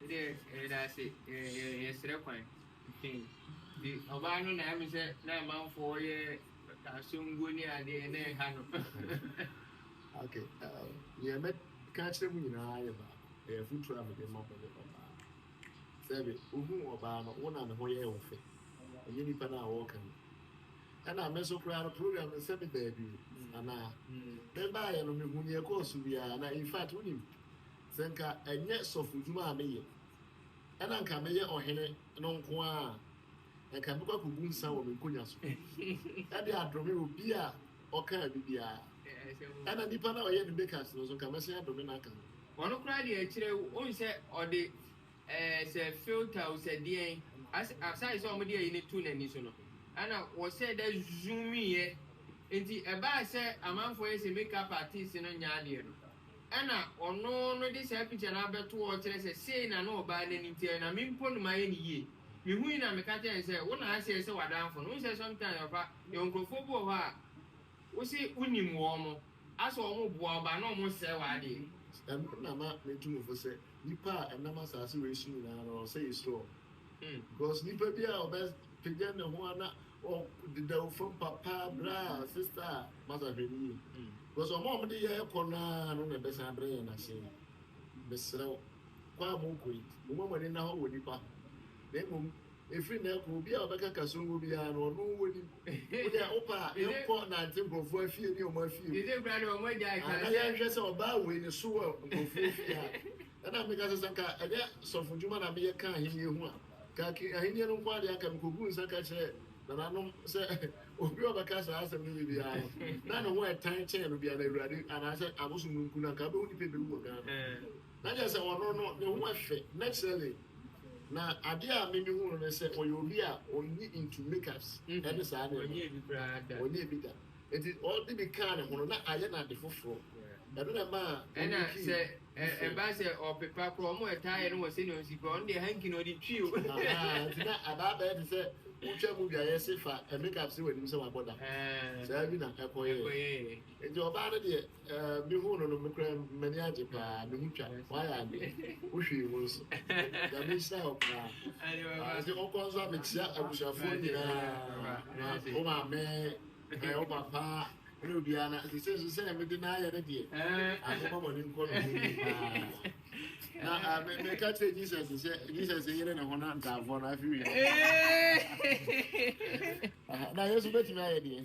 Yɛdɛ yɛdase yɛsrɛ kwan pii nti ɔbaa no na ɛme sɛ na amanfoɔ yɛ asomguo ne adeɛ na ɛha no. Okay um, deɛ mɛ ka akyerɛ mu nyinaa yɛ baako ɛyɛ afutuo a mede ma mo ne ɔbaa sɛbe wohu ɔbaa no wo na ne ho yɛɛ wo fɛ ɛnyɛ nipa no a wɔɔka no ɛna me nso koraa no program no sɛ me baabi anaa me baayɛ no mehu neɛ kɔɔ so biara na in fact wonim Sɛ anka ɛnyɛ sɔfodwuma a meyɛ na anka mɛyɛ ɔhene no nko ara a, anka mɛkɔ akogu nsã wɔ me nkonnwa so de adome obi a ɔkaa me biara. Ɛnna nipa no a ɔyɛ ne makeups no nso, anka mɛsan adome no aka ho. Ɔno koraa deɛ, ɛkyerɛ wonhyɛ ɔde. Ɛɛ sɛ filter o sɛ deɛn as aside sɛ wɔde ayi no to n'ani so no ɛna wɔsɛ dɛ zoomiiɛ nti ɛbaa sɛ amanfoɔ yɛ sɛ make up artist no nyɛ adeɛ no ɛna ɔno no de saa picture no abɛto hɔ kyerɛ sɛ sei na na ɔbaa n'ani teɛ na me mpo no mayɛ no yie mehui na meka kyerɛɛ no sɛ wo na aseɛ sɛ w'adamfo no wohu sɛ sometimes papa yɛwɔ nkurɔfoɔ bi wɔ hɔ a Wo se wo nim wɔn mo? Ase wɔn mo boa wo baa na wɔn sɛɛ w'adeɛ. Ɛno na ma me tu me fo sɛ nipa a ɛnam asase wei so nyinaa no ɔsɛ yɛ suro wɔn because nipa bi a ɔbɛ pagya ne ho a na ɔ deda wo fam papa bra sister a masa hwɛ no yie because wɔn a wɔn de yɛ ɛkɔ no ara no na ɛbɛ san brɛ yɛn ase yi me serɛ wo kɔ a mo kɔ yi mo ma mo ani na hɔ wɔ nipa ho na mmom Ɛfiri nnɛ rekɔ, obi a ɔbɛka Kasongo biara no, ɔno wɔ ni. Wo deɛ wopɛ a, yɛnkɔ nnante nkurɔfoɔ afie ne wɔn afie mu. Aa na yɛnhwɛ sɛ ɔbaa wei ne so wɔ nkurɔfoɔ fie a. Ɛnna meka sɛ, sɛ anka ɛnyɛ sɔfodwuma na meyɛ ka Ahennie ho a, anka ki Ahennie no nko ara deɛ anka mekɔguu nsa ka kyerɛɛ nananom sɛ obi a ɔbɛka saa asɛm no bi biara no, na ne ho ɛtan kyɛn no biara no, Awurade, anaasɛ abosom no mpo no, anka wobɛhu nnipa a ɛbɛwu wɔ Ghana. Na kyerɛ sɛ ɔno no, ne ho yɛ fɛ, naturally. Na adeɛ a me mehu no ne sɛ, ɔyɛ obi a ɔnnye into makeups ne saa nneɛma. Ɔnyɛɛ bi koraa da. Ɔnyɛɛ bi da. Nti ɔde bi kaa ne ho no, na ayɛ no ade foforɔ. Ɛno na ɛmaa Ɛna ɔyɛ key sɛ ɛ foforɔ. ɛba sɛ ɔpepa koraa, wɔn a ɛtaa yɛ no wɔ sɛnea ɔsi koraa, ɔno deɛ hanky na ɔde twi o. Ahaa, nti na aba abɛyɛ te sɛ wotwa movie a yɛse fa makeup si w'anim sɛ wabɔ da. Ɛɛ, Saa bi na ɛkɔyɛɛ. ɛkɔyɛɛ. Nti ɔbaa no deɛ, Ɛɛ me hu no no me kura mani agye paa me ho twa wayɛ ade wo hwee mu nso nyame nhyira wo paa ɛsɛ ɔkɔ nso a mekyia abusuafoɔ nyinaa wo maame ɛɛ wo papa ne obiara na sɛ nso sɛ mede no ayɛ no deɛ ahoma mɔne nkɔ no mu paa na me me ka kyerɛ Jesus sɛ Jesus yere ne ho na ntaafoɔ no afiri na Yesu bɛtumi ayɛ deɛ